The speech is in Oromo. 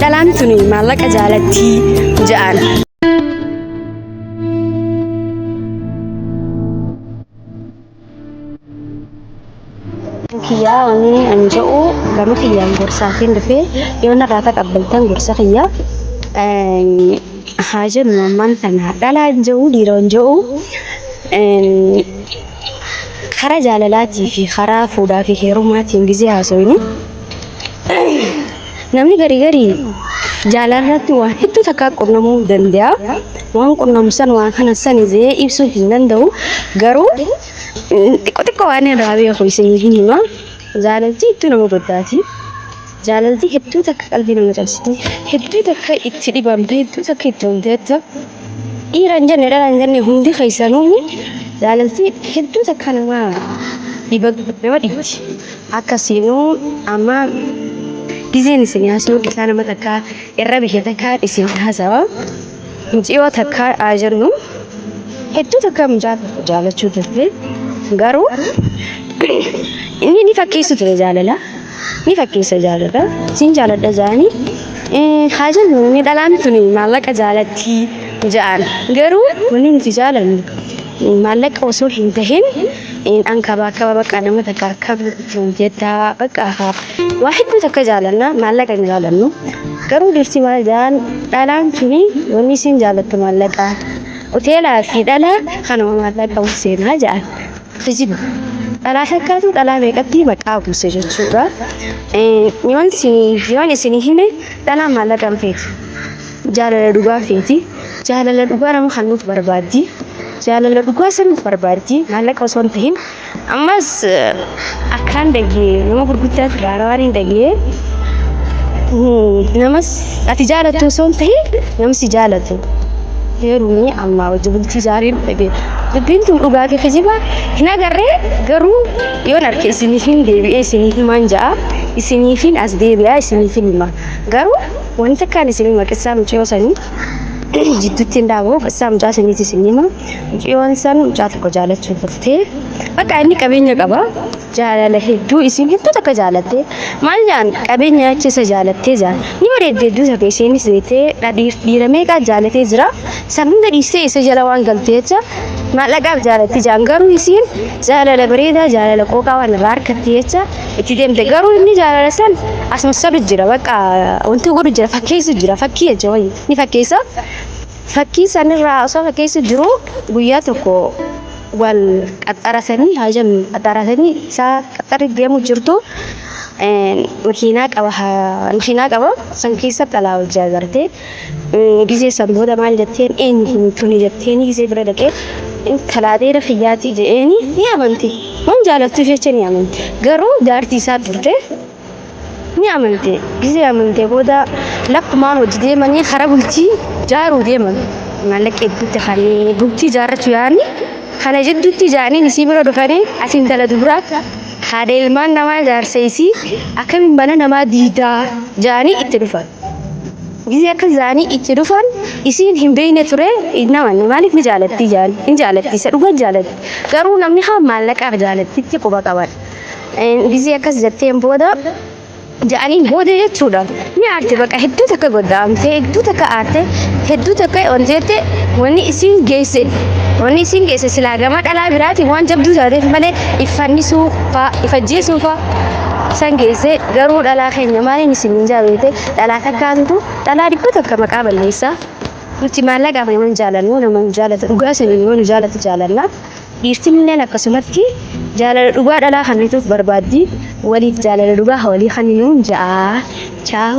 Dhalaan tuni maallaqa jaalattii ja'an. kiyyaa ani an jedhu gama kiyyaan gorsaatiin dhufee yoo narraa taqabbaltan gorsa kiyyaa haa jennu ammaan tana dhalaan jedhu dhiiroon jedhu karaa jaalalaatii fi karaa fuudhaa fi heerumaatiin gizee haasofnu Namni garii garii jaalarratti waan hedduu takkaa qunnamuu danda'a. Waan qunnamu san waan kana san jee ibsuu hin danda'u. Garuu xiqqoo xiqqoo waan irraa beeku isinii hin hima. Jaalalti hedduu nama goddaati. Jaalalti hedduu takka qalbii nama cabsite. Hedduu takka itti dhibamte. Hedduu takka itti honteetta. Dhiira hin jenne dhala hin jenne hundi keessanuu jaalalti hedduu takka nama dhiba nama dhibdi. akkasiinuu amma gizeen isin haasawuu isaa nama takkaa irra biyya takkaa isin haasawa muciyoo takkaa haa jennu hedduu takkaa mucaa jaalachuu turte garuu inni ni fakkeessu ture jaalala ni fakkeessa jaalala siin jaaladha jaanii haa jennu inni dhalaan tun maallaqa jaalatti ja'an garuu wanni nuti jaalannu maallaqa osoo hin tahin in an kabaa kaba bakka nama takka kabajuu jettaa bakka haa waa hedduu takka jaalanna maallaqa hin jaalannu garuu dhirti maal jaan dhalaan tuni wanni isin jaalattu maallaqa hoteelaa fi dhalaa kanuma maallaqa seenaa jaan kijiba dhalaa takkaatu dhalaa meeqatti maqaa buuse jechuudha yoon isin yoon isin hime dhalaa maallaqa hin feetu Jaalala dhugaa feeti. Jaalala dhugaa nama kennuuf barbaaddi. Jaalala dhugaa saniif barbaaddi. Maallaqa osoo hin tahin. Ammas akkaan dhagee nama gurguddaa irraa waan hin dhagee namas ati jaalattu osoo hin tahin namni si jaalatu. Heerumni ammaa wajji bultii jaariin dhagee. Dubbiin tun dhugaa fi kijiba hin agarree garuu yoon arke isiniif hin deebi'ee isiniif himaan ja'a. Isiniifin as deebi'aa isiniifin hima. Garuu Wani takkaan isin hima qissaa mucayoo sanii jidduutti hin dhaaboo qissaa mucaa saniiti isin hima mucayoon san mucaa tokko jaalachuu turtee bakka inni qabeenya qaba jaalala hedduu isin hedduu takka jaalattee maal jaan qabeenya achi isa jaalattee jaan ni bareedde hedduu takka isiinis beektee dhadhiif dhiira meeqaa jaalatee jira san hunda dhiistee isa jala waan galtee jecha maallaqaaf jaalatti jaan garuu isiin jaalala bareedaa jaalala qooqaa waan irraa harkatti jecha itti deemte garuu inni jaalala san as massalu jira bakka wanti godhu jira fakkeessu jira fakkii jecha wayii ni fakkeessa fakkii sanirraa osoo fakkeessu jiru guyyaa tokko wal qaxxarasanii haja qaxxarasanii isaa qaxxarri deemu jirtu makiinaa qaba makiinaa qaba san keessa xalaa hojjaa garte Gizee san booda maal jetteen eenyu tuni jetteeni gizee bira dhaqee intalaa dheera kiyyaatii je'eeni ni amanti. Waan jaalattuuf jecha ni amanti. Garuu jaartii isaa turte ni amante. Gizee amantee booda lakkumaa hojii deemanii karaa bultii jaaruu deeman. Maallaqa hedduutti kanneen bultii jaarrachuu yaa'anii kana jidduutti jaaniin isii bira dhufanii ati intala dubraa haadha ilmaan namaa jaarsa isii akkamiin mana namaa diidaa jaanii itti dhufan. Gizee akka zaanii itti dhufan isiin hin beeyne ture naman maaliif ni jaalattii jaan hin jaalattii isa dhugan jaalatti garuu namni haa maallaqaaf jaalattitti quba qaban gizee akkas jetteen booda ja'aniin booda jechuudha ni aarte baqa hedduu takka goddaamte hedduu takka aarte hedduu takka onteette wanni isiin geesse wanni isiin geesse silaa gama dhalaa biraatiin waan jabduu taateef malee iffannisuu faa ifajjeesuu faa San geessee garuu dhalaa keenya maaliin isiniin jaabeete dhalaa takkaatutu dhalaa dhibba takka maqaa balleessaa. Nuti maallaqaaf nama hin jaalannu nama nu jaalatu dhugaa saniin yoo nu jaalatu jaalanna. Dhiirtinilleen akkasumatti jaalala dhugaa dhalaa kannituuf barbaaddi waliif jaalala dhugaa ha walii kanninuun ja'a. Chaaw.